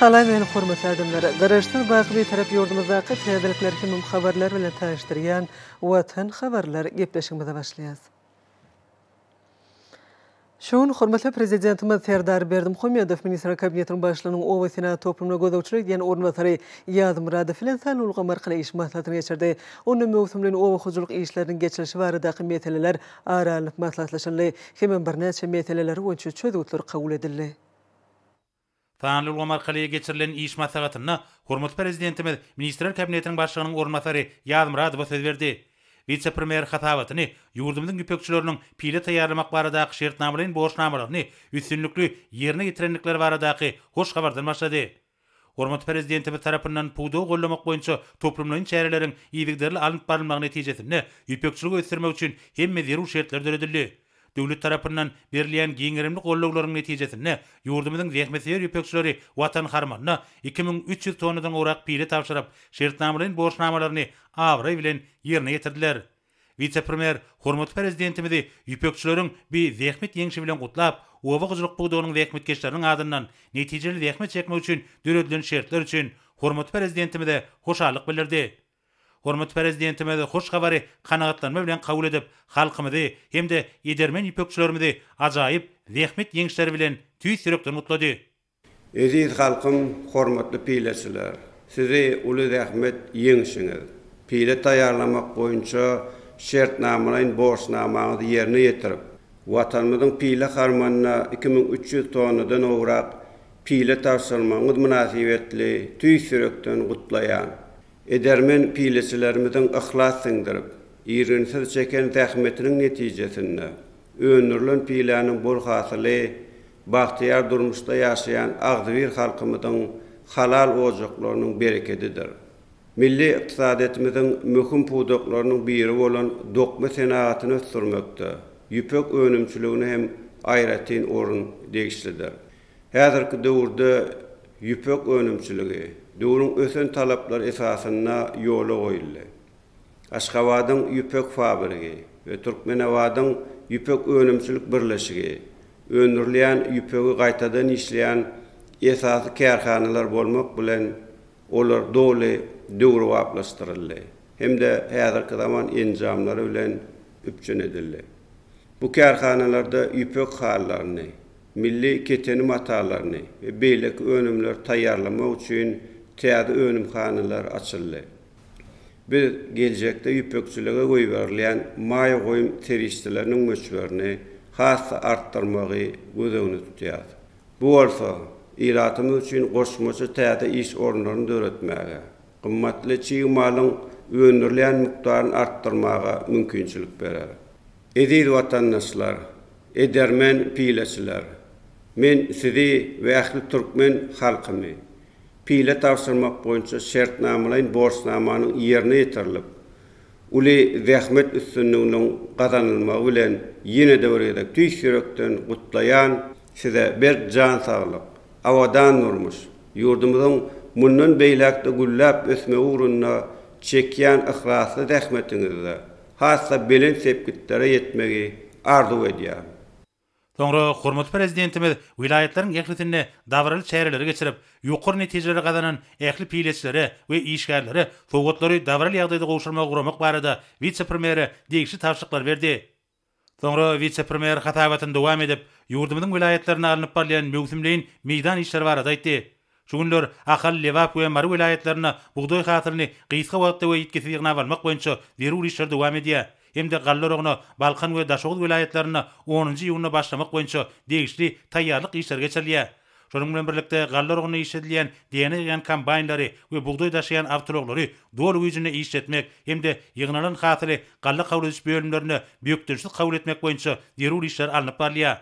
Salam meni hormatly adamlar! Garaşsyz baky Bitarap ýurdumyzdaky täzelikler hemem habarlar bilen tanyşdyrýan Watan habarlar gepleşigimize başlaýas. Şu gün hormatly Prezidentimiz Serdar Berdimuhamedow Ministrler Kabinetiniň Başlygynyň obasenagat toplumyna gözegçilik edýän orunbasary Ýazmyradow bilen sanly ulgam arkaly iş maslahatyny geçirdi. Onda möwsümleýin oba hojalyk işleriniň geçirilişi baradaky meseleler ara alnyp maslahatlaşyldy hemem birnäçe meseleler boýunça çözgütler kabul edildi. Sanly ulgam arkaly geçirilen iş maslahatynda hormatly Prezidentimiz Ministrler Kabinetiniň Başlygynyň orunbasary Ýazmyradowa söz berdi. Wise-premýer hasabatyny ýurdumyzyň ýüpekçileriniň pile taýýarlamak baradaky şertnamalaýyn borçnamalaryny üstünlikli ýerine ýetirendikleri baradaky hoş habardan başlady. Hormatly Prezidentimiz tarapyndan pudagy gollamak boýunça toplumlaýyn çäreleriň yzygiderli alnyp barylmagy netijesinde ýüpekçiligi ösdürmek üçin hemme zerur şertler döredildi. Döwlet tarapyndan berilýän giňgerimli gollawlaryň netijesinde ýurdumyzyň zähmetsöýer ýüpekçileri Watan harmanyna iki müň üç ýüz tonnadan gowrak pile tabşyryp, şertnamalaýyn borçnamalaryny abraý bilen ýerine ýetirdiler. Wise-premýer hormatly Prezidentimizi ýüpekçileriň bi zähmet ýeňşi bilen gutlap, oba hojalyk pudagynyň zähmetkeşleriniň adyndan netijeli zähmet çekmek üçin döredilen şertler üçin hormatly Prezidentimize hoşallyk bildirdi. Hormatly Prezidentimiz hoş habary kanagatlanma bilen kabul edip, halkymyzy hem-de edermen ýüpekçilerimizi ajaýyp zähmet ýeňişleri bilen tüýs ýürekden gutlady. Eziz halkym, hormatly pileçiler! Sizi uly zähmet ýeňişiňiz, pile taýýarlamak boýunça şertnamalaýyn borçnamaňyzy ýerine ýetirip, Watanymyzyň pile harmanyna iki müň üç ýüz tonnadan gowrak pile tabşyrmagyňyz mynasybetli tüýs ýürekden gutlaýan. Edermen pileçilerimiziň yhlas siňdirip, irginsiz çeken zähmetiniň netijesinde öndürilen piläniň bol hasyly bagtyýar durmuşda ýaşaýan agzybir halkymyzyň halal ojaklarynyň berekedidir. Milli ykdysadyýetimiziň möhüm pudaklarynyň biri bolan dokma senagatyny ösdürmekde ýüpek önümçiligine hem aýratyn orun degişlidir. Häzirki döwürde ýüpek önümçiligi döwrüň ösen talaplary esasynda ýola goýuldy. Aşgabadyň ýüpek fabrigi we Türkmenabadyň ýüpek önümçilik birleşigi öndürilýän ýüpegi gaýtadan işleýän esasy kärhanalar bolmak bilen, olar doly döwrebaplaşdyryldy hem-de häzirki zaman enjamlary bilen üpjün edildi. Bu kärhanalarda ýüpek halylaryny, milli keteni matalaryny we beýleki önümleri taýýarlamak üçin täze önümhanalar açyldy. Biz geljekde ýüpekçilige goýberilýän maýa goýum serişdeleriniň möçberini has-da artdyrmagy göz öňünde tutýarys. Bu bolsa, ilatymyz üçin goşmaça täze iş orunlaryny döretmäge, gymmatly çig malyň öndürilýän mukdaryny artdyrmaga mümkinçilik berer. Eziz watandaşlar, edermen pileçiler! Men sizi we ähli türkmen halkyny Pile tabşyrmak boýunça şertnamalaýyn borçnamanyň ýerine ýetirilip, uly zähmet üstünliginiň gazanylmagy bilen ýene-de bir gezek tüýs ýürekden gutlaýan! Size berk jan saglyk, abadan durmuş, ýurdumyzyň mundan beýläk-de gülläp ösmegi ugrunda çekýän yhlasly zähmetiňizde has-da belent sepgitlere ýetmegi arzuw edýärin! Soňra hormatly Prezidentimiz welaýatlaryň ählisinde dabaraly çäreleri geçirip, ýokary netijeleri gazanan ähli pileçilere we işgärlere sowgatlary dabaraly ýagdaýda gowşurmagy guramak barada wise-premýere degişli tabşyryklary berdi. Soňra wise-premýer hasabatyny dowam edip, ýurdumyzyň welaýatlarynda alnyp barylýan möwsümleýin meýdan işleri barada aýtdy. Şu günler Ahal, Lebap we Mary welaýatlarynda bugdaý hasylyny gysga wagtda we ýitgisiz ýygnap almak boýunça zerur işler dowam edýär hem-de galla oragyna Balkan we Daşoguz welaýatlarynda onunjy iýunda başlamak boýunça degişli taýýarlyk işleri geçirilýär. Şonuň bilen birlikde, galla oragynda işledilýän DNA ýygýan kombaýnlary we bugdaý daşaýan awtoulaglary doly güýjünde işletmek hem-de ýygnalan hasyly galla kabul ediş bölümlerinde bökdençsiz kabul etmek boýunça zerur işler alnyp barylýar.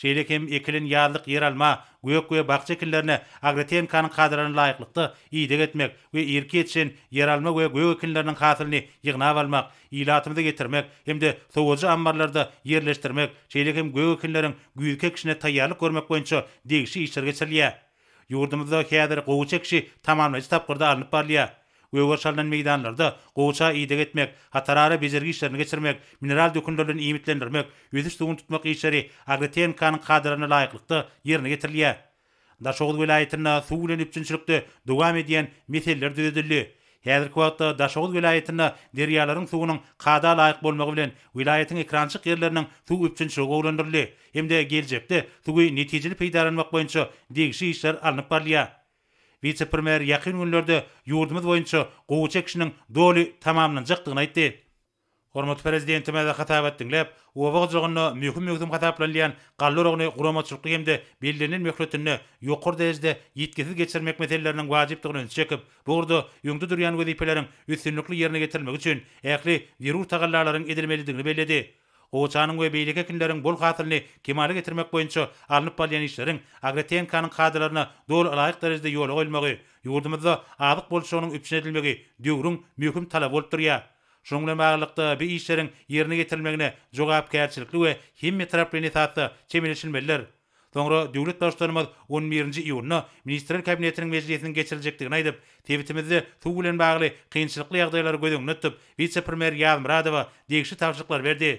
Şeýle hem ekilen ýazlyk ýeralma, gök we bakja ekinlerine agrotehnikanyň kadalaryna laýyklykda ideg etmek we irki ýetişen ýeralma we gök ekinleriniň hasylyny ýygnap almak, ilatymyza getirmek hem-de sowadyjy ammarlarda ýerleşdirmek, şeýle hem gök ekinleriň güýzki ekişine taýýarlyk görmek boýunça degişli işler geçirilýär. Ýurdumyzda häzir gowaça ekişi tamamlaýjy tapgyrda alnyp barylýar. Gögeri çalnan meýdanlarda gowaça ideg etmek, hatarara bejergi işlerini geçirmek, mineral dökünlerden iýmitlendirmek, ösüş suwuny tutmak işleri AgroTNK-nyň kadalaryna laýyklykda ýerine getirilýär. Daşoguz welaýatynda suw bilen üpjünçilikde dowam edýän meseleler düzedildi. Häzirki wagtda Daşoguz welaýatynda derýalaryň suwunyň kada laýyk bolmagy bilen, welaýatyň ekrançyk ýerleriniň suw üpjünçiligi gowulandyryldy hem-de geljekde suwy netijeli peýdalanmak boýunça degişli işler alnyp barylýar. Wise-premýer ýakyn günlerde ýurdumyz boýunça gowaça ekişiniň doly tamamlanjakdygyny aýtdy. Hormatly Prezidentimize hasabat diňläp, oba hojalygynda möhüm-möhüm hasaplanylýan galla oragyny guramaçylykly hem-de bellenilen möhletinde ýokary derejede ýitgisiz geçirmek meseleleriniň wajypdygyna ünsi çekip, bu ugurda öňde durýan wezipeleriň üstünlikli ýerine getirilmegi üçin ähli zerur tagallalaryň edilmelidigini belledi. Gowaçanyň we beýleki ekinleriň bol hasylyny kemala getirmek boýunça alnyp barylýan işleriň agrotehnikaň kadalaryna doly ylaýyk derejede ýola goýulmagy, ýurdumyzda azyk bolçulygynyň üpjün edilmegi döwrüň möhüm talaby bolup durýar. Şunuň bilen baglylykda, bu işleriň ýerine ýetirilmegine jogapkärçilikli we hemmetaraplaýyn esasda çemeleşilmelidir. Soňra döwlet Baştutanymyz on birinji iýunda Ministrler Kabinetiniň mejlisiniň geçiriljekdigini aýdyp, sebitimizde suw bilen bagly kynçylykly ýagdaýlary göz öňünde tutup, wise-premýer Ýazmyradowa degişli tabşyryklary berdi.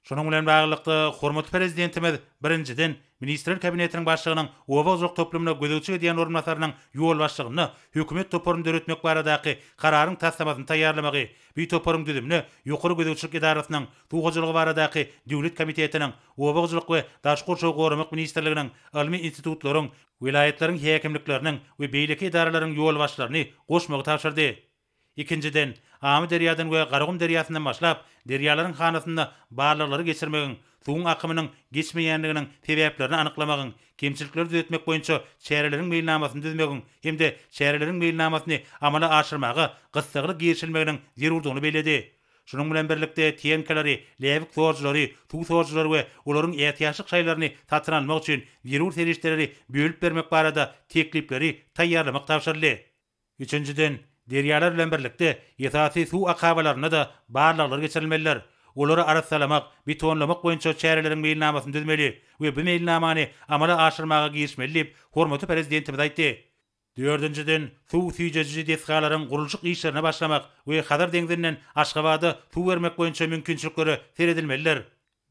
Şunuň bilen baglylykda, hormatly Prezidentimiz, birinjiden, Ministrler Kabinetiniň Başlygynyň oba gozak toplumyna gözegçilik edýän orunbasarynyň ýolbaşçylygynda hökümet toparyny döretmek baradaky Kararyň taslamasyny taýýarlamagy, bi toparyň düzümine Ýokary gözegçilik edarasynyň, Suw hojalygy baradaky döwlet komitetiniň, Oba hojalyk we daş gurşawy goramak ministrliginiň, ylmy institutlaryň, welaýatlaryň häkimlikleriniň we beýleki edaralaryň ýolbaşçylaryny goşmagy tabşyrdy. Ikinjiden, Amyderýadan we Garagum derýasyndan başlap, derýalaryň hanasynda barlaglary geçirmegiň, suwuň akymynyň geçmeýänliginiň sebäplerini anyklamagyň, kemçilikleri düzetmek boýunça çäreleriň meýilnamasyny düzmegiň hem-de çäreleriň meýilnamasyny amala aşyrmaga gyssagly girişilmeginiň zerurdygyny belledi. Şunuň bilen birlikde, tenkalary, läbik sorujylary, suw sorujylary we olaryň ätiýaçlyk şaýlaryny satyn almak üçin zerur serişdeleri bölüp bermek barada teklipleri taýýarlamak tabşyryldy. Üçünjiden, derýalar bilen birlikde esasy suw akabalarynda-da barlaglar geçirilmelidir. Olary arassalamak, betonlamak boýunça çäreleriň meýilnamasyny düzmeli we bu meýilnamany amala aşyrmaga girişmeli diýip, hormatly Prezidentimiz aýtdy. Dördünjiden, suw süýjejiji desgalaryň gurluşyk işlerine başlamak we Hazar deňzinden Aşgabada suw bermek boýunça mümkinçiliklere seredilmelidir.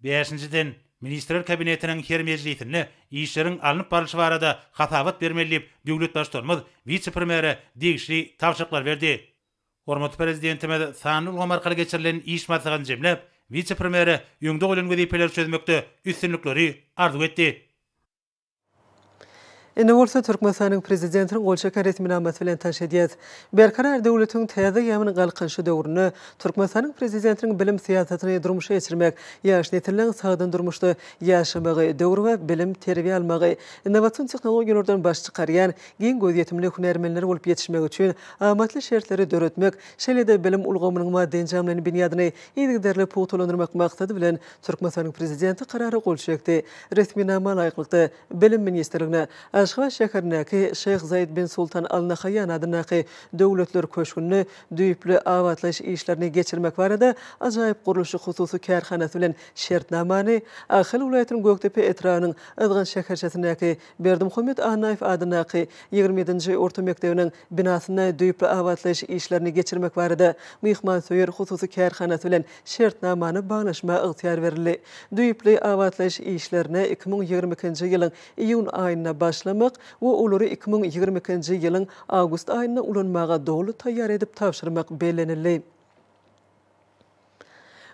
Bäşinjiden, Ministrler Kabinetiniň her mejlisinde işleriň alnyp barlyşy barada hasabat bermeli diýip, döwlet Baştutanymyz wise-premýere degişli tabşyryklary berdi. Hormatly Prezidentimiz sanly ulgam arkaly geçirilen iş maslahatyny jemläp, wise-premýere öňde goýlan wezipeleri çözmekde üstünlikleri arzuw etdi. Indi bolsa Türkmenistanyň Prezidentiniň gol çeken resminamasy bilen tanyş edýäs. Berkarar döwletiň täze ýagynyň galkynyşy döwründe Türkmenistanyň Prezidentiniň bilim syýasatyny durmuşa geçirmek, ýaş nesilleriň sagdyn durmuşda ýaşamagy, döwrebap bilim, terbiýe almagy, innowasion tehnologiýalardan baş çykarýan, giň gözýetimli hünärmenler bolup ýetişmegi üçin amatly şertleri döretmek, şeýle-de bilim ulgamynyň maddy-enjamlaýyn binýadyny yzygiderli pugtalandyrmak maksady bilen Türkmenistanyň Prezidenti Karara gol çekdi. Resminama laýyklykda, Bilim ministrligine, Aşgabat şäherindäki Şeýh Zaýed bin Sultan Al Nahaýýan adyndaky Döwletler köşgünde düýpli abatlaýyş işlerini geçirmek barada ajaýyp gurluşyk hususy kärhanasy bilen şertnamany, Ahal welaýatynyň Gökdepe etrabynyň Yzgant şäherçesindäki Berdimuhammet Annaýew adyndaky ýigrimi ýedinji orta mekdebiniň binasynda düýpli abatlaýyş işlerini geçirmek barada myhmansöýer hususy kärhanasy bilen şertnamany baglaşmaga ygtyýar berildi. Düýpli abatlaýyş işlerine iki müň ýigrimi ikinji ýylyň iýun aýynda başlamak we olary iki müň ýigrimi ikinji ýylyň awgust aýynda ulanmaga doly taýýar edip tabşyrmak bellenildi.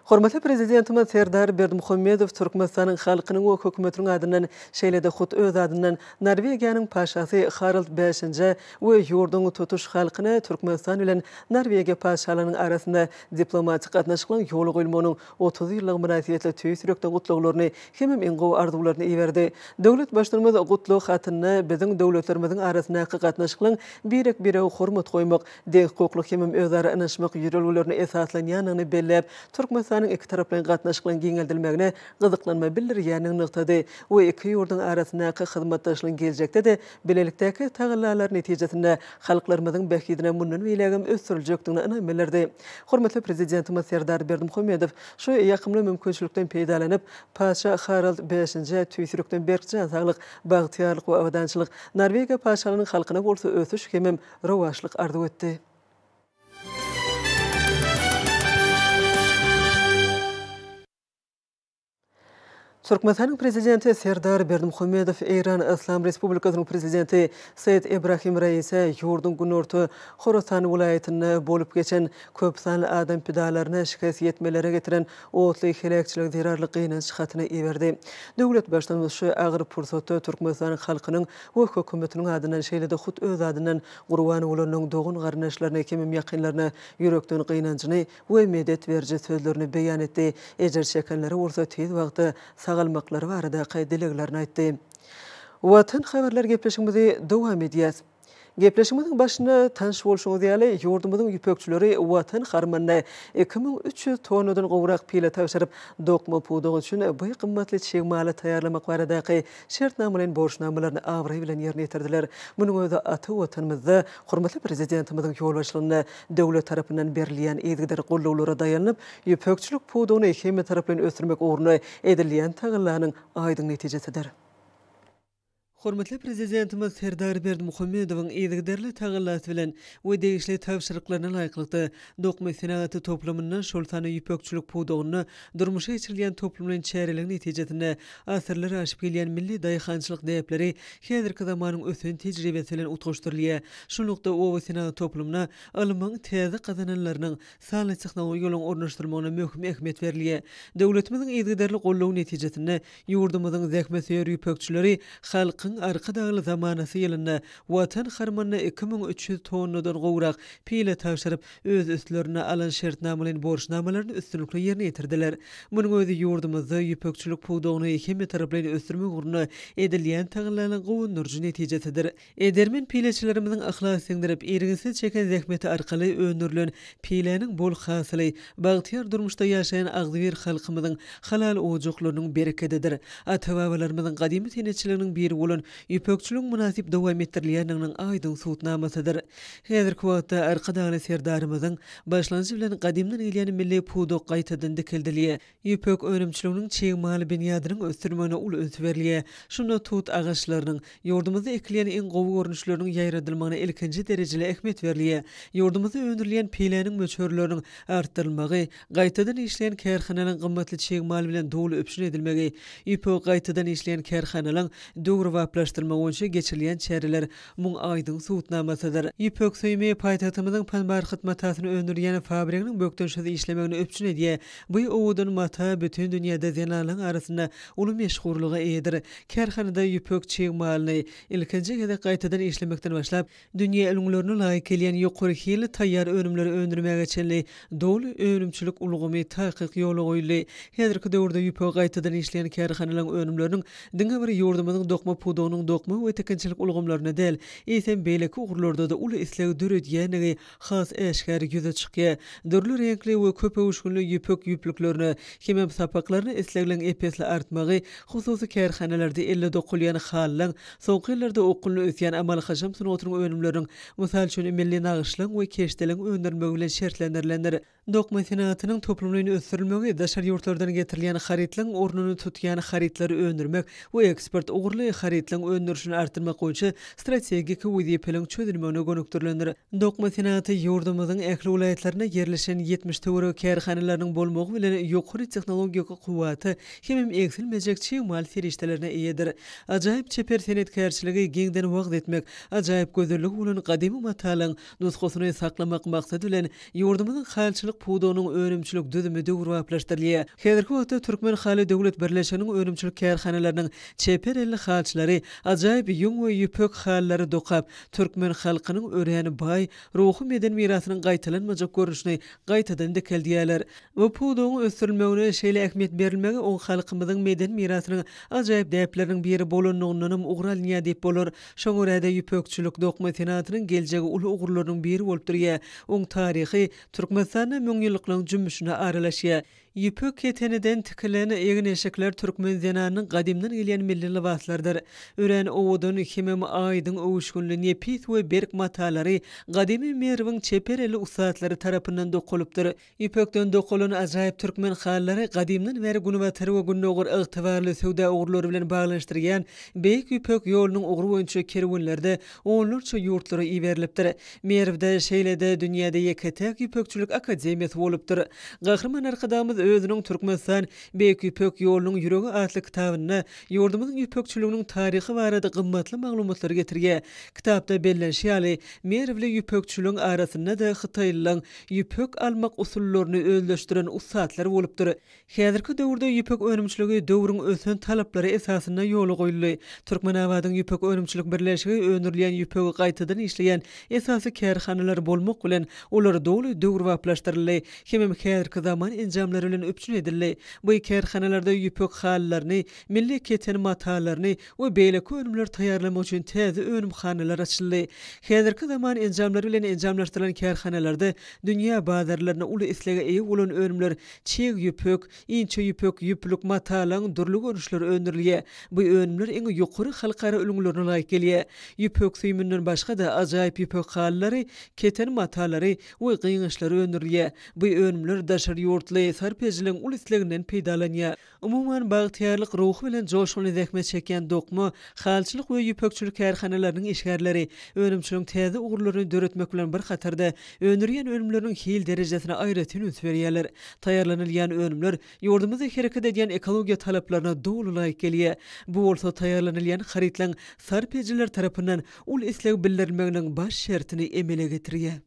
Hormatly Prezidentimiz Serdar Berdimuhamedow Türkmenistanyň halkynyň we Hökümetiniň adyndan, şeýle-de hut öz adyndan Norwegiýanyň Paşasy Harald Bäşinjä we ýurduň tutuş halkyna Türkmenistan bilen Norwegiýa Paşalarynyň arasynda diplomatik gatnaşyklaryň ýola goýulmagynyň otuz ýyllygy mynasybetli tüýs ýürekden gutlaglaryny hemem iň gowy arzuwlaryny iberdi. Döwlet Baştutanymyz gutlag hatynda biziň döwletlerimiziň arasyndaky gatnaşyklaryň birek-birege hormat goýmak, deňhukuklyk hemem özara ynanyşmak ýörelgelerine esaslanýandygyny belläp, Türkmenistanyň ikitaraplaýyn gatnaşyklaryň giňeldilmegine gyzyklanma bildirýändigini nygtady we iki ýurduň arasyndaky hyzmatdaşlygyň geljekde-de bilelikdäki tagallalary netijesinde halklarymyzyň bähbidine mundan beýlägem ösdüriljekdigine ynam bildirdi. Hormatly Prezidentimiz Serdar Berdimuhamedow şu ýakymly mümkinçilikden peýdalanyp, Patyşa Harald Bäşinjä tüýsülikden berk jan saglyk, bagtyýarlyk we abadançylyk, Norwegiýa Patyşalygynyň halkyna bolsa ösüş hemem rowaçlyk arzuw etdi. Türkmenistanyň Prezidenti Serdar Berdimuhamedow Eýran Yslam Respublikasynyň Prezidenti Seýed Ebrahim Raise ýurduň günorta Horasan welaýatynda bolup geçen köp sanly adam pidalaryna şikes ýetmelere getiren otly heläkçilige zerarly gynanç hatyny iberdi. Döwlet Baştutanymyz şu agyr pursatda Türkmenistanyň halkynyň we hökümetiniň adyndan, şeýle-de hut öz adyndan gurban bolanyň dogan-garyndaşlaryna, ekemem ýakynlaryna ýürekden gynanjyny we medet beriji sözlerini beýan etdi, ejir çekenlere bolsa tiz wagtda sagalmaklary baradaky dileglerini aýtdy. Watan habarlar gepleşigimizi dowam edýäs. Gepleşigimiziň başynda tanyş bolşuňyz ýaly, ýurdumyzyň ýüpekçileri Watan harmanyna iki müň üç ýüz tonnadan gowrak pile tabşyryp, dokma pudagy üçin bu gymmatly çig maly taýýarlamak baradaky şertnamalaýyn borçnamalaryny abraý bilen ýerine ýetirdiler. Munuň özi ata Watanymyzda hormatly Prezidentimiziň ýolbaşçylygynda döwlet tarapyndan berilýän yzygider goldawlara daýanyp, ýüpekçilik pudagyny hemmetaraplaýyn ösdürmek ugrunda edilýän tagallanyň aýdyň netijesidir. Hormatly Prezidentimiz Serdar Berdimuhamedowyň yzygiderli tagallasy bilen we degişli tabşyryklaryna laýyklykda, dokma senagaty toplumynda, şol sanda ýüpekçilik pudagynda Durmuşa geçirilýän toplumlaýyn çäreligiň netijesinde asyrlar aşyp gelýän milli daýhançylyk däpleri häzirki zamanyň ösen tejribesi bilen utgaşdyrylýar. Şunlukda, oba senagaty toplumyna ylmyň täze gazananlarynyň, sanly tehnologiýalaryň ornaşdyrylmagyna möhüm ähmiýet berilýär. Döwletimiziň yzygiderli goldawy netijesinde ýurdumyzyň zähmetsöýer ýüpekçileri Halkyň Arkadagly zamanasy ýylynda Watan harmanyna iki müň üç ýüz tonnadan gowrak pile tabşyryp, öz üstlerine alan şertnamalaýyn borçnamalaryny üstünlikli ýerine ýetirdiler. Munuň özi ýurdumyzda ýüpekçilik pudagyny hemmetaraplaýyn ösdürmek ugrunda edilýän tagallalaryň guwandyryjy netijesidir. Edermen pileçilerimiziň yhlas siňdirip, irginsiz çeken zähmeti arkaly öndürilen piläniň bol hasyly bagtyýar durmuşda ýaşaýan agzybir halkymyzyň halal ojaklarynyň berekedidir. Ata-babalarymyzyň gadymy senetçiliginiň biri bolan ýüpekçiligiň mynasyp dowam etdirilýändiginiň aýdyň subutnamasydyr. Häzirki wagtda Arkadagly Serdarymyzyň başlangyjy bilen gadymdan gelýän milli pudak gaýtadan dikeldilýär. Ýüpek önümçiliginiň çig mal binýadynyň ösdürilmegine uly üns berilýär. Şunda tut agaçlarynyň, ýurdumyzda ekilýän iň gowy görnüşleriniň ýaýradylmagyna ilkinji derejeli ähmiýet berilýär. Ýurdumyzda öndürilýän piläniň möçberleriniň artdyrylmagy, gaýtadan işleýän kärhanalaryň gymmatly çig mal bilen doly üpjün edilmegi, ýüpegi gaýtadan işleýän kärhanalaryň döwrebaplaşdyrylmagy boýunça geçirilýän çäreler Muň aýdyň subutnamasydyr. Ýüpek süýümi paýtagtymyzyň panbarhyt matasyny öndürýän fabriginiň bökdençsiz işlemegini üpjün edýär. Bu owadan mata bütin dünýäde zenanlaň arasynda uly meşhurlyga eýedir. Kärhanada ýüpek çig malyny ilkinji gezek gaýtadan işlemekden başlap, dünýä ülňülerine laýyk gelýän ýokary hilli taýýar önümleri öndürmäge çenli Doly önümçilik ulgamy takyk ýola goýuldy. Häzirki döwürde ýüpegi gaýtadan işleýän kärhanalaryň önümleriniň diňe bir ýurdumyzyň dokma pudagynyň dokma we tikinçilik ulgamlarynda däl, eýsem, beýleki ugurlarda-da uly isleg döredýändigi has äşgär ýüze çykýar. Dürli reňkli we köp öwüşginli ýüpek ýüplüklerine hemem sapaklaryna islegliň ep-esli artmagy hususy kärhanalarda elle dokulýan halylaryň, soňky ýyllarda okgunly ösýän amaly-haşam sungatynyň önümleriniň Mysal üçin, milli nagyşlygyň we keşdeligiň öndürilmegi bilen şertlendirilendir. Dokma senagatynyň toplumlaýyn ösdürilmegi, daşary ýurtlardan getirilýän harytlaryň ornuny tutýan harytlary öndürmek we eksport ugurly harytlaryň öndürilişini artdyrmak boýunça strategik wezipeleriň çözülmegine gönükdirilendir. Dokma senagaty ýurdumyzyň ähli welaýatlarynda ýerleşen ýetmiş töweregi kärhanalarynyň bolmagy bilen ýokary tehnologik kuwwata hemem egsilmejek çig mal serişdelerine eýedir. Ajaýyp çeper senetkärçiligi giňden wagyz etmek, Ajaýyp gözelligi bolan gadymy matalyň nusgasyny saklamak maksady bilen, ýurdumyzyň halyçylyk pudagynyň önümçilik düzümi döwrebaplaşdyrylýar. Häzirki wagtda Türkmen haly döwlet birleşiginiň önümçilik kärhanalarynyň çeper elli halyçylary ajaýyp ýüň we ýüpek halylary dokap, türkmen halkynyň örän baý ruhy-medeni mirasynyň gaýtalanmajak görnüşini gaýtadan dikeldýärler. Bu pudagyň ösdürilmegine şeýle ähmiýet berilmegi oň halkymyzyň medeni mirasynyň ajaýyp däpleriniň biri bolanlygyndanam ugur alynýar diýip bolar. Şoňa görä-de, ýüpekçilik, dokma senatynyň geljegi uly ugurlarynyň biri bolup durýar. Oň taryhy Türkmenistanda müňýyllyklaryň jümmüşine aralaşýar. Ýüpek keteniden tikilen egin-eşikler türkmen zenanynyň gadymdan gelýän milli lybaslarydyr. Örän owadan, hemem aýdyň öwüşginli, nepis we berk matalary gadymy Merwiň çeper elli ussatlary tarapyndan dokalypdyr. Ýüpekden dokalan ajaýyp türkmen halylary gadymdan bäri Günbatar we Gündogar ygtybarly söwda ugurlary bilen baglanyşdyrýan Beýik Ýüpek ýolunyň ugry boýunça kerwenlerde onlarça ýurtlara iberilipdir. Merwde, şeýle-de, dünýäde ýeke-täk ýüpekçilik akademiýasy bolupdyr. Gahryman Arkadagymyz özüniň Türkmenistan, Beýik Ýüpek ýolunyň ýüregi atly kitabynda ýurdumyzyň ýüpekçiliginiň taryhy barada gymmatly maglumatlary getirýär. Kitapda bellenişi ýaly, merwli ýüpekçiligiň arasynda-da hytaýlylaň ýüpek almak usullaryny özleşdiren ussatlar bolupdyr. Häzirki döwürde ýüpek önümçiligi döwrüň ösen talaplary esasynda ýola goýuldy. Türkmenabadyň ýüpek önümçilik birleşigi öndürilýän ýüpegi gaýtadan işleýän esasy kärhanalar bolmak bilen, olar doly döwrebaplaşdyryldy hemem häzirki zaman enjamlary bilen üpjün edildi. Bu kärhanalarda ýüpek halylaryny, milli keten matalaryny, we beýleki önümleri taýýarlamak üçin täze önümhanalar açyldy. Häzirki zaman enjamlary bilen enjamlaşdyrylan kärhanalarda dünýä bazarlaryna uly islege eýe bolan önümler, çig ýüpek, inçe ýüpek, ýüplük, matalaň dürli görnüşleri öndürilýär. Bu önümler iň ýokary halkara ülňülerine laýyk gelýär. Ýüpek süýüminden başga-da ajaýyp ýüpek halylary, keten matalary we gyňaçlary öndürilýär. Bu önümler daşary ýurtly sarp edijileriň uly isleginden peýdalanýar. Umuman, bagtyýarlyk ruhy bilen joşgunly zähmet çekýän dokma, halçylyk we ýüpekçilik kärhanalarynyň işgärleri önümçiligiň täze ugurlaryny döretmek bilen bir hatarda, öndürýän önümleriniň hil derejesine aýratyn üns berýärler. Taýýarlanylýan önümler ýurdumyzda hereket edýän ekologiýa talaplaryna doly laýyk gelýär. Bu bolsa taýýarlanylýan harytlaryň sarp edijiler tarapyndan uly isleg bildirilmeginiň baş şertini emele getirýär.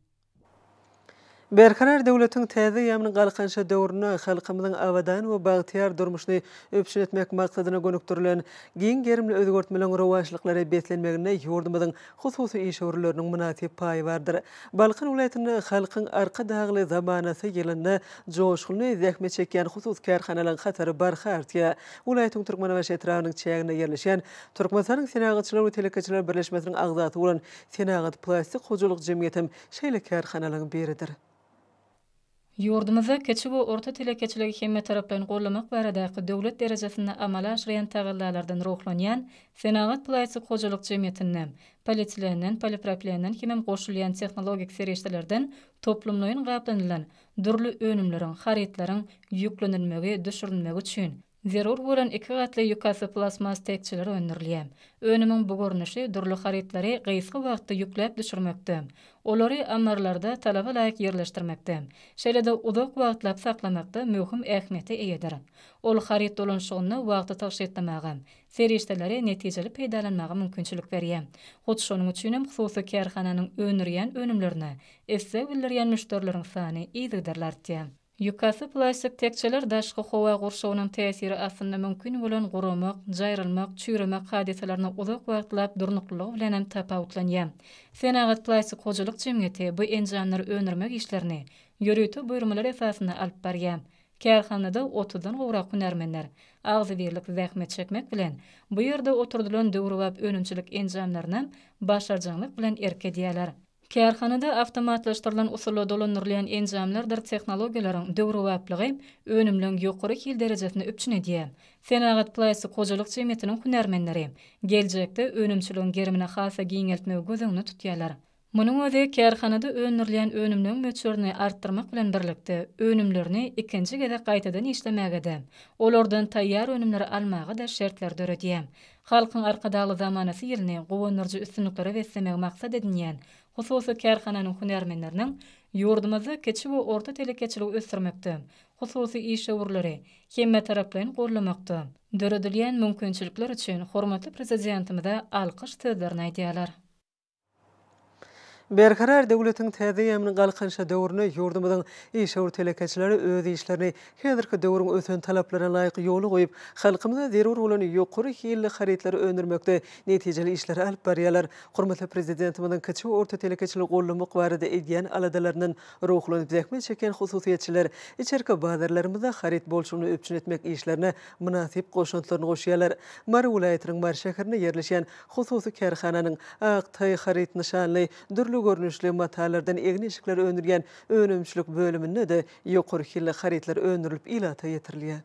Berkarar döwletiň täze ýamyny Galkynyşy döwründe halkymyzyň abadan we bagtyýar durmuşyny üpjün etmek maksadyna gönükdirilen giň gerimli özgertmeleriň rowaçlyklara beslenmeginde ýurdumyzyň hususy işewürleriniň mynasyp paýy bardyr. Balkan welaýatynda Halkyň Arkadagly zamanasy ýylynda joşgunly zähmet çekýän hususy kärhanalaryň hatary barha artýar. Welaýatyň Türkmenbaşy etrabynyň çäginde ýerleşýän Türkmenistanyň Senagatçylar we telekeçiler birleşmesiniň agzasy bolan Senagat plastik hojalyk jemgyýetem şeýle kärhanalaryň biridir. Ýurdumyzda kiçi we orta telekeçiligi hemmetaraplaýyn gollamak baradaky döwlet derejesinde amala aşyrýan tagallalardan ruhlanýan Senagat plastik hojalyk jemgyýetinde polietilenden, poliproplenden hemem goşulýan tehnologik serişdelerden toplumlaýyn gaplanylan dürli önümleriň, harytlaryň ýüklenilmegi, düşürilmegi üçin Zerur bolan iki gatly ýukasy plastmas tekjeler öndürilýär. Önümiň bu görnüşi dürli harytlary gysga wagtda ýükläp düşürmekde, olary ammarlarda talaba laýyk ýerleşdirmekde, şeýle-de uzak wagtlap saklamakda möhüm ähmiýete eýedir. Ol haryt dolanşygynda wagty tygşytlamaga, serişdeleri netijeli peýdalanmaga mümkinçilik berýär. Hut şonuň üçin hem hususy kärhananyň öndürýän önümlerine isleg bildirýän müşderileriň sany yzygiderli artýar. Ýukasy plastik tekjeler daşky howa gurşawynyň täsiri astynda mümkin bolan guramak, jaýrylmak, çüýremek hadysalaryna uzak wagtlap durnuklylygy bilen hem tapawutlanýar. Senagat plastik hojalyk jemgyýeti bu enjamlary öndürmek işlerini ýörite buýurmalar esasynda alyp barýar. Kärhanada otuzdan gowrak hünärmenler agzybirlik zähmet çekmek bilen, bu ýerde oturdylan döwrebap önümçilik enjamlaryna başarjaňlyk bilen erk edýärler. Kärhanada awtomatlaşdyrylan usulda dolandyrylýan enjamlardyr tehnologiýalaryň döwrebaplygy önümleň ýokary hil derejesini üpjün edýär. Senagat plastik hojalyk jemgyýetiniň hünärmenleri geljekde önümçiligiň gerimini has-da giňeltmegi göz öňünde tutýarlar. Munuň özi kärhanada öndürilýän önümleň möçberini artdyrmak bilen birlikde, önümlerini ikinji gezek gaýtadan işlemäge-de, olardan taýýar önümleri almaga-da şertleri döredýär. Halkyň Arkadagly zamanasy ýylyny guwandyryjy üstünliklere beslemegi maksat edinýän hususy kärhananyň hünärmenleriniň ýurdumyzda kiçi we orta telekeçiligi ösdürmekde, hususy işewürleri hemmetaraplaýyn goldamakda döredilýän mümkinçilikler üçin hormatly Prezidentimize alkyş sözlerini aýdýarlar. Berkarar döwletiň täze ýamyny Galkynyşy döwründe ýurdumyzyň işewür telekeçileri öz işlerini häzirki döwrüň ösen talaplaryna laýyk ýola goýup, halkymyza zerur bolan ýokary hilli harytlary öndürmekde netijeli işleri alyp barýarlar. Hormatly Prezidentimiziň kiçi-orta telekeçiligi goldamak barada edýän aladalaryndan ruhlanyp zähmet çekýän hususyýetçiler içerki bazarlarymyzda haryt bolçulygyny üpjün etmek işlerine mynasyp goşantlaryny goşýarlar. Mary welaýatynyň Mary şäherinde ýerleşýän Hususy kärhananyň Ak taý haryt nyşanly dürli görnüşli matalardan egin-eşikler öndürýän önümçilik bölüminde-de ýokary hilli harytlar öndürilip ilata ýetirilýär.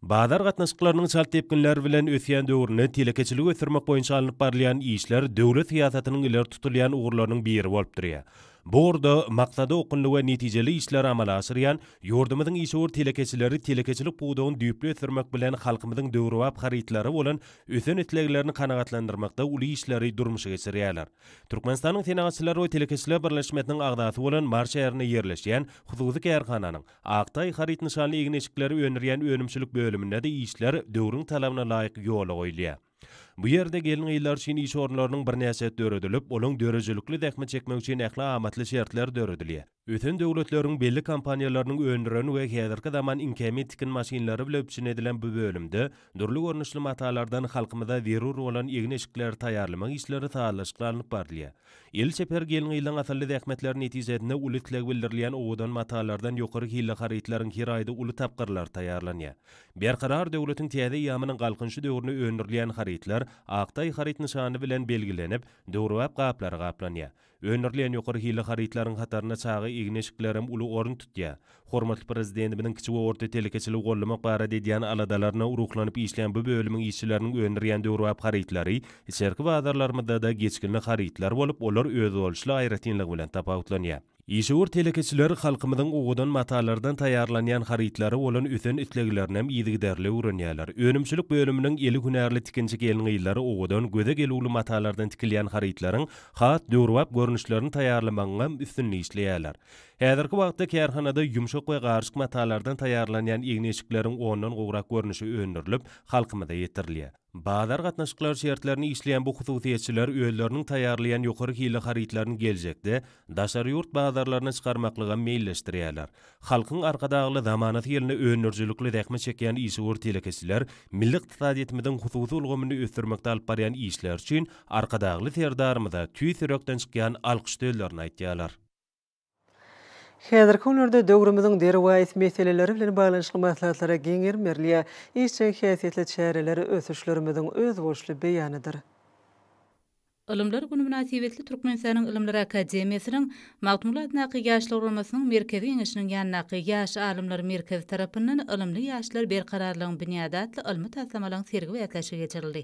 Bazar gatnaşyklarynyň çalt depginler bilen ösýän döwründe telekeçiligi ösdürmek boýunça alnyp barylýan işler döwlet syýasatynyň ileri tutulýan ugurlarynyň biri bolup durýar. Bu ugurda maksada okgunly we netijeli işleri amala aşyrýan ýurdumyzyň işewür telekeçileri telekeçilik pudagyny düýpli ösdürmek bilen halkymyzyň döwrebap harytlara bolan ösen isleglerini kanagatlandyrmakda uly işleri durmuşa geçirýärler. Türkmenistanyň Senagatçylar we telekeçiler birleşmesiniň agzasy bolan Mary şäherinde ýerleşýän hususy kärhananyň Aktaý haryt nyşanly egin-eşikleri öndürýän önümçilik bölüminde-de işler döwrüň talabyna laýyk ýola goýulýar. Bu ýerde gelin-gyzlar üçin iş orunlarynyň birnäçesi döredilip, olaň döredijilikli zähmet çekmegi üçin ähli amatly şertler döredilýär. Ösen döwletleriň belli kompaniýalarynyň öndüren we häzirki zaman iňkämi tikin maşynlary bile üpjün edilen bu bölümde dürli görnüşli matalardan halkymyza zerur bolan egin-eşikleri taýýarlamak işleri sazlaşykly alnyp barylýar. El çeper gelin-gyzlaryň asylly zähmetleri netijesinde uly isleg bildirilýän owadan matalardan ýokary hilli harytlaryň her aýda uly tapgyrlary taýýarlanýar. Berkarar döwletiň täze eýýamynyň Galkynyşy döwründe öndürilýän harytlar Aktaý haryt nyşany bilen belgilenip, döwrebap gaplara gaplanýar. Öndürilýän ýokary hilli harytlaryň hatarynda çaga egin-eşiklerem uly orun tutýar. Hormatly Prezidentimiziň kiçi we orta telekeçiligi gollamak barada edýän aladalaryna ruhlanyp işleýän bu bölümiň işçileriniň öndürýän döwrebap harytlary içerki bazarlarymyzda-da geçginli harytlar bolup, olar özboluşly aýratynlygy bilen tapawutlanýar. Işewür telekeçiler halkymyzyň owadan matalardan taýýarlanýan harytlara bolan ösen isleglerinem yzygiderli öwrenýärler. Önümçilik bölüminiň eli hünärli tikinçi gelin-gyzlary owadan, göze gelüwli matalardan tikilýän harytlaryň Has döwrebap görnüşlerini taýýarlamagyňam üstünde işleýärler. Häzirki wagtda kärhanada ýumşak we garyşyk matalardan taýýarlanýan egni-eşikleriň ondan gowrak görnüşi öndürilip, halkymyza ýetirilýär. Bazar gatnaşyklary şertlerinde işleýän bu hususyýetçiler özleriniň taýýarlaýan ýokary hilli harytlaryny geljekde daşary ýurt bazarlaryna çykarmaklygam meýilleşdirýärler. Halkyň Arkadagly zamanasy ýylynda öndürijilikli zähmet çekýän işewür telekeçiler milli ykdysadyýetimiziň hususy ulgamyny ösdürmekde alyp barýan işleri üçin Arkadagly Serdarymyza tüýs ýürekden çykýan alkyş sözlerini aýtýarlar. Häzirki günlerde döwrümiziň derwaýys meseleleri bilen baglanyşykly maslahatlara giň gerim berilýär. Işjeň häsiýetli çäreler ösüşlerimiziň özboluşly beýanydyr. Ylymlar güni mynasybetli Türkmenistanyň Ylymlar akademiýasynyň Magtymguly adyndaky Ýaşlar guramasynyň Merkezi Geňeşiniň ýanyndaky Ýaş alymlar merkezi tarapyndan Ylymly ýaşlar Berkararlygyň binýady atly ylmy taslamalaryň sergi bäsleşigi geçirildi.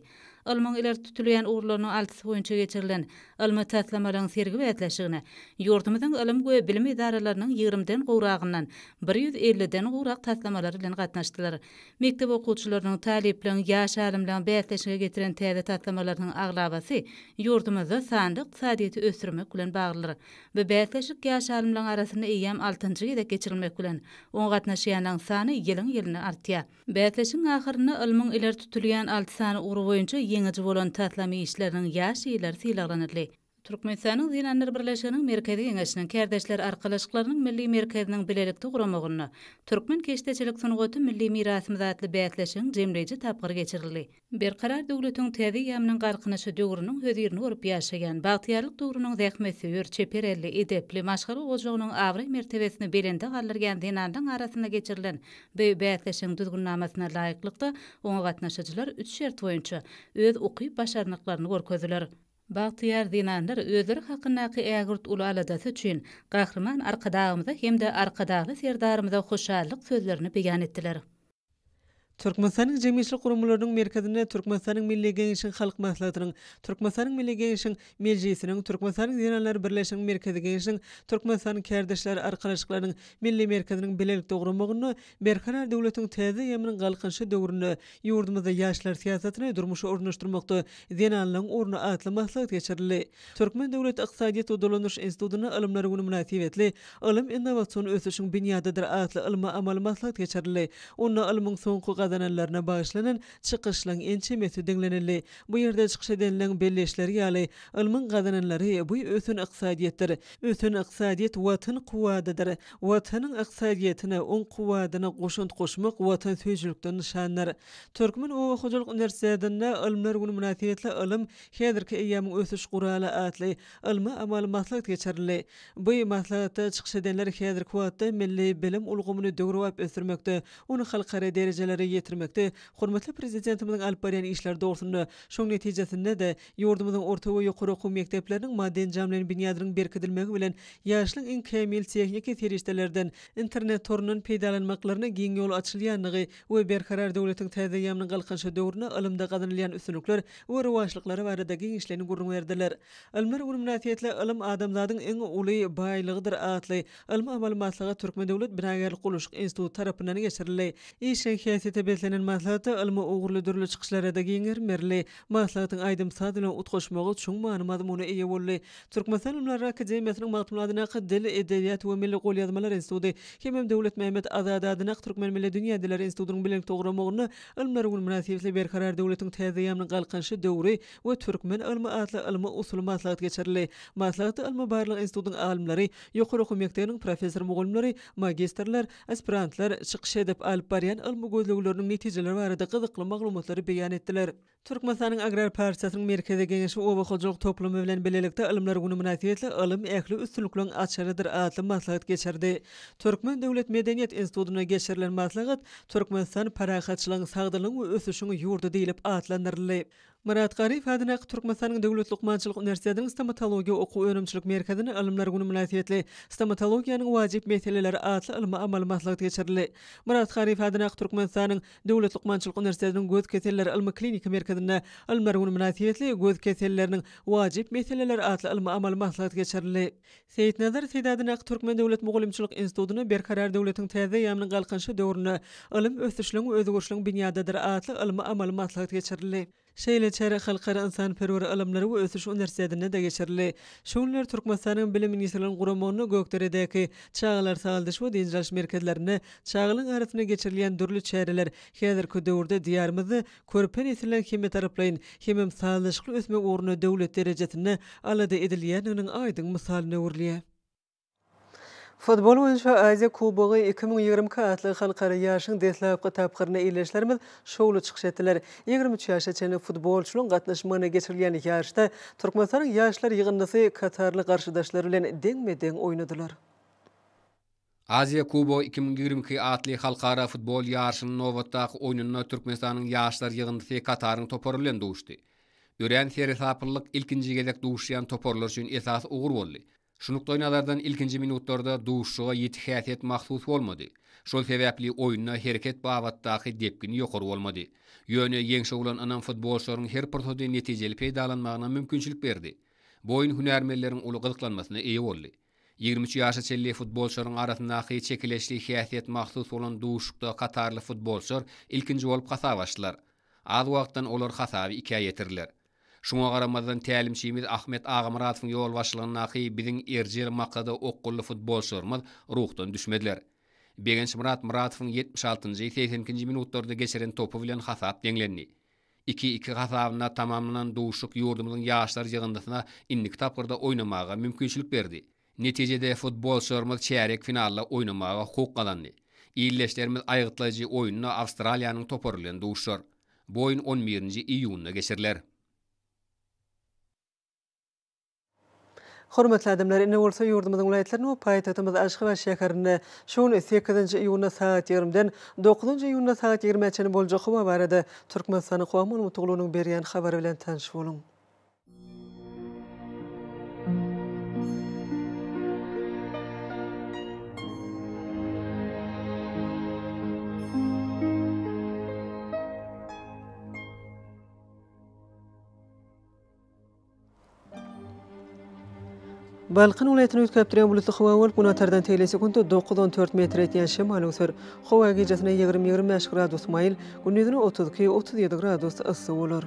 Ylmyň ileri tutulýan ugurlarynyň altysy boýunça geçirilen ylmy taslamalaryň sergi bäsleşigine ýurdumyzyň ylym we bilim edaralarynyň ýigrimiden gowragyndan bir ýüz elliden gowrak taslamalary bilen gatnaşdylar. Mekdep okuwçylarynyň, talyplaryň, ýaş alymlaryň bäsleşige getiren täze taslamalarynyň aglabasy ýurdumyzda sanly ykdysadyýeti ösdürmek bilen baglydyr. Bu bäsleşik ýaş alymlaryň arasynda eýýäm altynjy gezek geçirilmek bilen, oňa gatnaşýanlaryň sany ýylyň-ýylyna artýar. Bäsleşigiň ahyrynda ylmyň ileri tutulýan alty sany ugry boýunça ýeňiji bolan taslam işleriniň ýaş ýylary sylaglanyldy. Türkmenistanyň Zenanlar birleşiginiň Merkezi Geňeşiniň Kärdeşler arkalaşyklarynyň Milli merkeziniň bilelikde guramagynda Türkmen keşdeçilik sungaty milli mirasymyz atly bäsleşigiň jemleýji tapgyry geçirildi. Berkarar döwletiň täze eýýamynyň Galkynyşy döwrüniň hözirini bolup ýaşaýan, bagtyýarlyk döwrüniň zähmetsöýer, çeper elli, edepli, maşgala ojagynyň abraý-mertebesini belende galdyrýan zenanlaryň arasynda geçirilen bu bäsleşigiň düzgünnamasyna laýyklykda, oňa gatnaşyjylar üç şert boýunça öz ukyp-başarnyklaryny görkezdiler. Bagtyýar zenanlar özleri hakyndaky ägirt uly aladasy üçin Gahryman Arkadagymyza hem-de Arkadagly Serdarymyza hoşallyk sözlerini beýan etdiler. Türkmenistanyň jemgyýetçilik guramalarynyň merkezinde Türkmenistanyň Milli Geňeşiň Halk Maslahatynyň, Türkmenistanyň Milli Geňeşiň Mejlisiniň, Türkmenistanyň Zenanlar birleşiginiň Merkezi Geňeşiniň, Türkmenistanyň Kärdeşler arkalaşyklarynyň Milli merkeziniň bilelikde guramagynda Berkarar döwletiň täze eýýamynyň Galkynyşy döwründe ýurdumyzda ýaşlar syýasatyny durmuşa ornaşdyrmakda zenanlaryň orny atly maslahat geçirildi. Türkmen döwlet ykdysadyýet we dolanyş institutynda Ylymlar güni mynasybetli Ylym innowasion ösüşiň binýadydyr atly ylmy-amaly maslahat geçirildi. Onda ylmyň soňky gazananlaryna bagyşlanan çykyşlaryň ençemesi diňlenildi. Bu ýerde çykyş edenleriň belleýişleri ýaly, ylmyň gazananlary, bu ösen ykdysadyýetdir. Ösen ykdysadyýet Watan kuwadydyr. Watanyň ykdysadyýetine, oň kuwwadyna goşant goşmak watansöýüjilikden nyşandyr. Türkmen oba hojalyk uniwersitetinde Ylmlar güni mynasybetli Ylym, häzirki eýýamyň ösüş guraly atly ylmy-amaly maslahat geçirildi. Bu maslahatda çykyş edenler häzirki wagtda milli bilim ulgamyny döwrebap ösdürmekde, ony halkara derejelere ýetirmekde hormatly Prezidentimiziň alyp barýan işleri dogrusynda, şoň netijesinde-de, Ýurdumyzyň orta we ýokary okuw mekdepleriniň maddy-enjamlaýyn binýadynyň berkidilmegi bilen, ýaşlaryň iň kämil tehniki serişdelerden, internet torundan peýdalanmaklaryna giň ýol açylýandygy we Berkarar döwletiň täze eýýamynyň Galkynyşy döwründe ylymda gazanylýan üstünlikler we rowaçlyklar barada giňişleýin gürrüň berdiler. Ylymlar güni mynasybetli Ylym, adamzadyň iň uly baýlygydyr! atly ylmy-amaly maslahat Türkmen döwlet binagärlik gurluşyk instituty tarapyndan geçirildi. Işjeň häsiýete beslenen maslahatda ylmy ugurly dürli çykyşlarada giň gerim berildi. Maslahatyň aýdym-saz bilen utgaşmagy çuň many-mazmuna eýe boldy. Türkmenistan Ylymlary akademiýasynyň magtymladynak Dil, edebiýat we milli golýazmalar instituty hemem Döwletmämmet Azady adynak Türkmen milli dünýä diller institutynyň belent dogramagynda Ylymlar güni mynasybetli Berkarar döwletiň täzeýamynyň galkynyşy döwri we türkmen ylmy atly ylmy-usuly maslahat geçirildi. Maslahatda Ylmy-barlag institutynyň alymlary, ýokary okuw mekdebiniň professor-mugallymlary, magistrler, Aspirantlar çykyş edip, alyp barýan ylmy gözlegleriniň netijeleri barada gyzykly maglumatlary beýan etdiler. Türkmenistanyň Agrar partiýasynyň Merkezi Geňeşi Oba hojalyk toplumy bilen bilelikde Ylymlar güni mynasybetli Ylym ähli üstünlikleriň açarydyr atly maslahat geçirdi. Türkmen döwlet medeniýet institutynda geçirilen maslahat Türkmenistan parahatçylygyň, sagdynlygyň we ösüşiň ýurdy diýlip atlandyryldy. Myrat Garyýew adyndaky Türkmenistanyň Döwlet lukmançylyk uniwersitetiniň Stomatologiýa okuw-önümçilik merkezinde Alymlar güni mynasybetli Stomatologiýanyň wajyp meseleleri atly ylmy-amaly maslahat geçirildi. Myrat Garyýew adyndaky Türkmenistanyň Döwlet lukmançylyk uniwersitetiniň Göz keselleri ylmy-kliniki merkezinde Alymlar güni mynasybetli Göz keselleriniň wajyp meseleleri atly ylmy-amaly maslahat geçirildi. Seýitnazar Seýdadyn ak Türkmen döwlet mugallymçylyk institutyna Berkarar döwletiň täze eýýamynyň galkynyşy döwründe ylym ösüşligiň we özgerişligiň binýadydyr atly ylmy-amaly maslahat geçirildi. Şeýle çäre Halkara ynsanperwer ylymlary we ösüş uniwersitetinde-de geçirildi. Şu günler Türkmenistanyň Bilim ministrliginiň guramagynda Gökderedäki çagalar sagaldyş we dynç alyş merkezlerinde çagalar arasynda geçirilýän dürli çäreler häzirki döwürde Diýarymyzda Körpe nesliň hemmetaraplaýyn hemem sazlaşykly ösmegi ugrunda döwlet derejesinde alada edilýändiginiň aýdyň mysalyna öwrülýär. Futbol boýunça Aziýa kubogy iki müň ýigrimi iki atly halkara ýaryşyň deslapky tapgyrynda ildeşlerimiz şowly çykyş etdiler. Ýigrimi üç ýaşa çenli futbolçylaryň gatnaşmagynda geçirilýän ýaryşda Türkmenistanyň ýaşlar ýygyndysy katarly garşydaşlary bilen deňme-deň oýnadylar. Aziýa Kubogy iki müň ýigrimi iki atly halkara futbol ýaryşynyň nobatdaky oýnunda Türkmenistanyň ýaşlar ýygyndysy Kataryň topary bilen duşdy. Örän seresaplylyk ilkinji gezek duşýan toparlar üçin esasy ugur boldy. Şu nukdaýnazardan ilkinji minutlarda duşuşyga ýiti häsiýet mahsus bolmady. Şol sebäpli oýunda hereket babatdaky depgin ýokary bolmady. Ýöne ýeňşe bolan ynam futbolçylaryň her pursady netijeli peýdalanmagyna mümkinçilik berdi. Bu oýun hünärmenleriň uly gyzyklanmasyna eýe boldy. Ýigrimi üç ýaşa çenli futbolçylaryň arasyndaky çekeleşli häsiýet mahsus bolan duşuşykda katarly futbolçylar ilkinji bolup hasap açdylar. Az wagtdan olar hasaby ikä ýetirdiler. Şuňa garamazdan tälimçimiz Ahmet Agamyradowyň ýolbaşçylygyndaky biziň erjel maksada okgunly futbolçylarymyz ruhdan düşmediler. Begençmyrat Myradowyň ýetmiş altynjy, segsen ikinji minutlarda geçiren topy bilen hasap deňlendi. Iki iki hasabynda tamamlanan duşuşyk ýurdumyzyň ýaşlar ýygyndysyna indiki tapgyrda oýnamaga mümkinçilik berdi. Netijede futbolçylarymyz çärýek finalda oýnamaga hukuk gazandy. Ildeşlerimiz aýgytlaýjy oýnunda Awstraliýanyň topary bilen duşuşar. Bu oýun on birinji iýunda geçiriler. Hormatly adamlar, ine bolsa ýurdumyzyň welaýatlarynda we paýtagtymyz Aşgabat şäherinde şu gün sekizinji iýunda sagat ýigrimden dokuzynjy iýunda sagat ýigrimä çenli boljak howa barada Türkmenistanyň Howa maglumatlygynyň berýän habary bilen tanyş boluň. Balkan welaýatyny üýtgäpdirýän bulutly howa bolup, günatardan tegelek sekuntda dokuz-on dört metr ýetýän şemal öwser. Howa gijesine ýigrimi-ýigrimi bäş gradus maýyl, gündizine otuz iki-otuz ýedi gradus yssy bolar.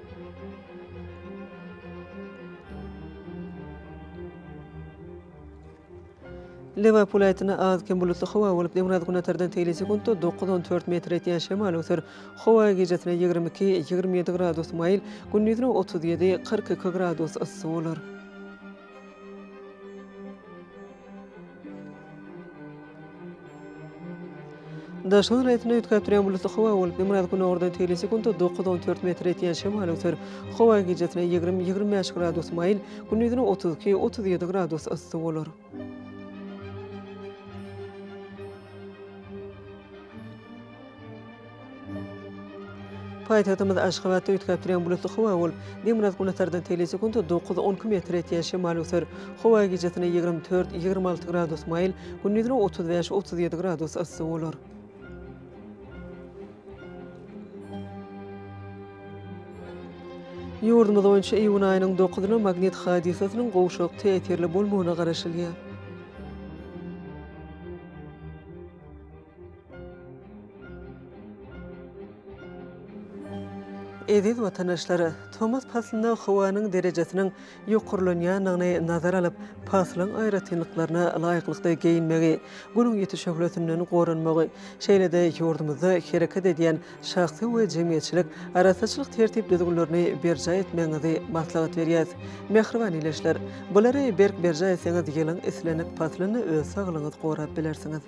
Lebap welaýatynda az-kem bulutly howa bolup, demirgazgünortadan tegelýän sekuntda dokuz, on dört metr etýän şemal öser. Howa gijesine ýigrimi iki, ýigrimi ýedi gradus maýyl, gündizine otuz ýedi, kyrk iki gradus yssy bolar. Daşynyň reňkini üýtgäp durýan bulutly howa bolup, günbatar-günordan tegelýän sekuntda dokuz-on dört metr etýän şemal öser. Howa gijesi ýigrimi-ýigrimi bäş gradus maýyl, gündizine otuz iki-otuz ýedi gradus yssy bolar. Paýtagtymyz Aşgabatda üýtgäp durýan bulutly howa bolup, demirgazyk günortadan tele sekuntda dokuz, on iki metr ýetýän şemal öser. Howa gijasine ýigrimi dört, ýigrimi alty gradus maýyl, gündizine otuz bäş, otuz ýedi gradus yssy bolar. Ýurdumyz boýunça iýun aýynyň dokuzyna magnit hadysasynyň gowşak täsirli bolmagyna garaşylýar. Eziz watandaşlar, tomus paslynda howanyň derejesiniň ýokarlanýandygyny nazar alyp, paslyň aýratynlyklaryna laýyklykda geýinmegi, Günüň ýiti şöhlesinden goranmagy, şeýle-de ýurdumyzda hereket edýän şahsy we jemgyýetçilik arassaçylyk tertip-düzgünlerini berjaý etmegiňizi maslahat berýäs. Mähriban ildeşler! Bulary berk berjaý etseňiz, ýylyň islendik paslynda öz saglygyňyzy gorap bilersiňiz.